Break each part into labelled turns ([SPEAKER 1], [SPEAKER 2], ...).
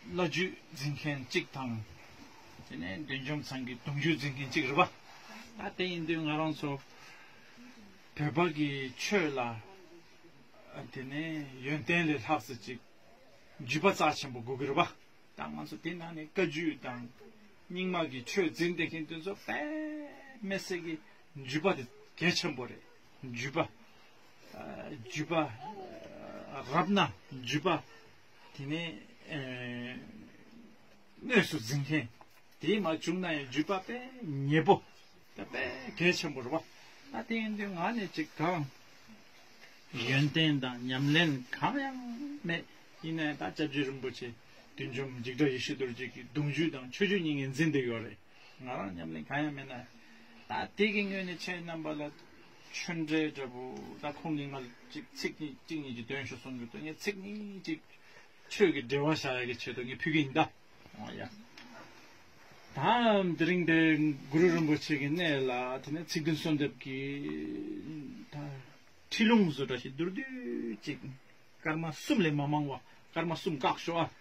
[SPEAKER 1] བླ་རྒྱུད་འཛིན་མཁན་གཅིག་དང། དེ་ནས་འདུལ་འཇོམས་ཚང་གི་གདུང་རྒྱུད་འཛིན་མཁན་གཅིག་རེད་པ། ད་དེ་ཡིན་དུས་ང་རང་ཚོ་བོད་པ་གི་ཆོས་ལ་དེ་ནས་ཡོན་ཏན་ལས་ལྷག་ཟེར་ཅིག་རྒྱུས་པ་རྩ་ཆེན་པོ་དགོས་ཀྱི་རེད་པ། ད་ང་ཚོ་དེ་ནང་ནས་བཀའ་རྒྱུད་དང་རྙིང་མ་གི་ཆོས་འཛིན་བསྡད་མཁན་དེ་ཚོ་པདྨས་གསེར་གྱི་རྒྱུས་པ་དེ་གལ་ཆེན་པོ་རེད། འཇུས་པ། འཇུས་པ། རབ་ན་འཇུས་པ། དེ་ནས། དངོས་སུ་འཛིན་མཁན། དེས་མ་བྱུང་ན་ཡང་འཇུས་པ་པས་ཉེས་པོ། པས་གལ་ཆེན་པོར་བ། ད་དེ་ཡིན་དུས་ང་ནི་ཅིག་དང། ཡོན་ཏན་དང་ཉམས་ལེན་གང་ཡང་མེད། ཡིན་ན་ཡང་ད་ལྕགས་ཀྱུ་རིན་པོ་ཆེ། བདུད་འཇོམས་འཇིགས་བྲལ་ཡེ་ཤེས་རྡོ་རྗེ་ཀྱི་གདུང་རྒྱུད་དང་ཆོས་བརྒྱུད་གཉིས་ངེས་འཛིན་དུ་ཡོད་རེད། ང་རང་ཉམས་ལེན་གང་ཡང་མེད་ན། དེ་གིས་སྔོན་ནས་ཆེས་རྣམ་པ་ལ་ཆོས་འབྲེལ་འདྲ་པོ་ད་ཁོང་གིས་ང་ལ་ཅིག་ཚིག་གཉིས་གཅིག་གཉིས་ཀྱི་དོན་ཞུ་གསུངས་ཡོད་དོ་ངས་ཚིག་གཉིས་གཅིག་ཆོས་ཀྱི་འབྲེལ་བ་བྱ་ཡ་གི་ཆེད་དུ་ངས་ཕུལ་གི་ཡིན་ད། ཨོ་ཡ། ད་དེ་རིང་འདི་གུ་རུ་རིན་པོ་ཆེ་གི་གནས་ལ་དེ་ནས་ཚིག་བདུན་གསོལ་འདེབས་ཀྱི་ད། ཁྲིད་ལུང་བཟོ་གྲྭ་ཞིག་བསྡུར་དུས་ཅིག་སྐར་མ་གསུམ་ལས་མ་མང་བ་སྐར་མ་གསུམ་བཀག་ཤོག་ཨ།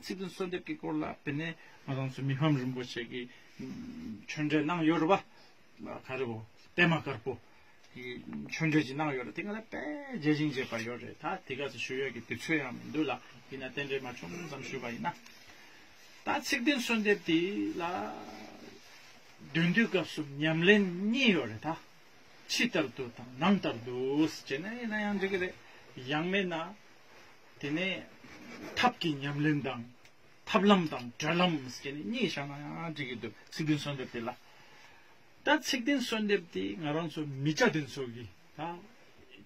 [SPEAKER 1] ཚིག་དོན་གསོལ་འདེབས་ཀྱི་སྐོར་ལ་དཔེར་ན་ང་རང་ཚོའི་མི་ཕམ་རིན་པོ་ཆེ་གི་ཆོས་འབྲེལ་གནང་ཡོད་རེད་པ། ག་རེ་བོ་པད་མ་དཀར་པོ་གི་ཆོས་འབྲེལ་ཅིག་གནང་ཡོད་རེད་དེ་ག་ལ་དཔེ་རྗེས་ཤིང་བརྗེད་པར་ཡོད་རེད་ད་དེ་ག་ཚོད་ཞུ་ཡོད་ཀྱི་དུས་ཚོད་ཡང་མི་འདུག་ལ་དེས་ན་རྟེན་འབྲེལ་མ་ཆུང་ངུ་ཙམ་ཞུས་པ་ཡིན་ན། ད་ཚིག་དོན་གསོལ་འདེབས་དེ་ལ་འདོན་དུས་སྐབས་སུ་ཉམས་ལེན་གཉིས་ཡོད་རེད་ད། ཕྱི་ལྟར་དུ་དང་ནང་ལྟར་དུ་ཅེས་ན་ཡིན་ན་ཡང་འགྲིག་གི་རེད་ཡང་མེད་ན། དེ་ནས་ཐབས་ཀྱི་ཉམས་ལེན་དང། ཐབས་ལམ་དང་སྒྲོལ་ལམ་ཞེས་ནི་གཉིས་བཞག་ན་ཡང་འགྲིག་གི་འདུག་ཚིག་བདུན་གསོལ་འདེབས་དེ་ལ། ད་ཚིག་བདུན་གསོལ་འདེབས་དེ་ང་རང་ཚོ་མི་བྱ་དེ་ཚོ་གི་ད་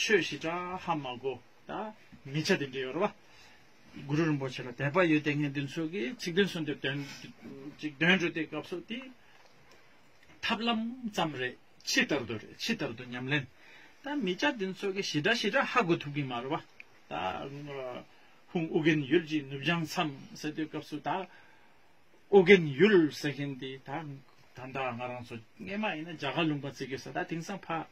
[SPEAKER 1] ཆོས་ཞི་དྲག་ཧ་མ་གོ་ད་མི་བྱ་དེ་འདྲི་ཡོད་རེད་བ། གུ་རུ་རིན་པོ་ཆེ་ལ་དད་པ་ཡོད་དེ་ངས་དེ་ཚོ་གི་ཚིག་བདུན་གསོལ་འདེབས་དོན་ཅིག་འདོན་འགྲོ་དེ་སྐབས་སུ་དེ་ཐབས་ལམ་ཙམ་རེད་ཕྱི་ལྟར་དུ་རེད་ཕྱི་ལྟར་དུ་ཉམས་ལེན་ད་མི་བྱ་དེ་ཚོ་གི་ཞི་དྲག་ཞི་དྲག་ཧ་གོ་ཐུབ་གི་མ་རེད་བ། ཧུང་ཨུ་རྒན་ཡུལ་གྱི་ནུབ་བྱང་མཚམས་ཟེར་དུས་སྐབས་སུ་ད་ཨུ་རྒན་ཡུལ་ཟེར་མཁན་དེ་ད་ད་ལྟ་ང་རང་ཚོ་རྔན་མ་ཡིན་ན་རྒྱ་གར་ལུང་པ་བརྩི་གི་ཡོད་ས་ད་དེང་སང་ཕ་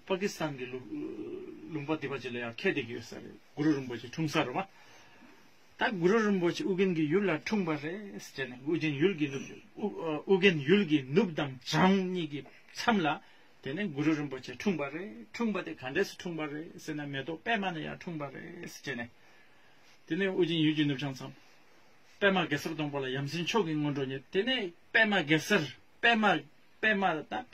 [SPEAKER 1] ཕ་ཀི་སི་ཐན་གྱི་ལུང་པ་འདི་པ་ཅིག་ལ་ཡང་ཁས་འདེགས་ཀྱི་ཡོད་ས་རེད་གུ་རུ་རིན་པོ་ཆེ་འཁྲུངས་ས་རུ་མ་ད་གུ་རུ་རིན་པོ་ཆེ་ཨུ་རྒན་གྱི་ཡུལ་ལ་འཁྲུངས་པ་རེད་ཟེར་ནས་ཨུ་རྒན་ཡུལ་གྱི་ནུབ་ཨུ་རྒན་ཡུལ་གྱི་ནུབ་དང་བྱང་གཉིས་ཀྱི་མཚམས་ལ་དེ་ནས་གུ་རུ་རིན་པོ་ཆེ་འཁྲུངས་པ་རེད་འཁྲུངས་པ་དེ་ག་འདྲས་སུ་འཁྲུངས་པ་རེད་ཟེར་ན་མེ་ཏོག་པདྨ་ནས་ཡང་འཁྲུངས་པ་རེད་ཅེས་ནས། དེ་ནས་དབུ་ཅན་ཡུལ་གྱི་ནུབ་བྱང་མཚམས། པདྨ་གེ་སར་སྡོང་པོ་ལ་ཡམ་སྲིང་མཆོག་གི་སྔོན་འགྲོ་ཉིད་དེ་ནས་པདྨ་གེ་སར་པདྨ་པདྨ་དང།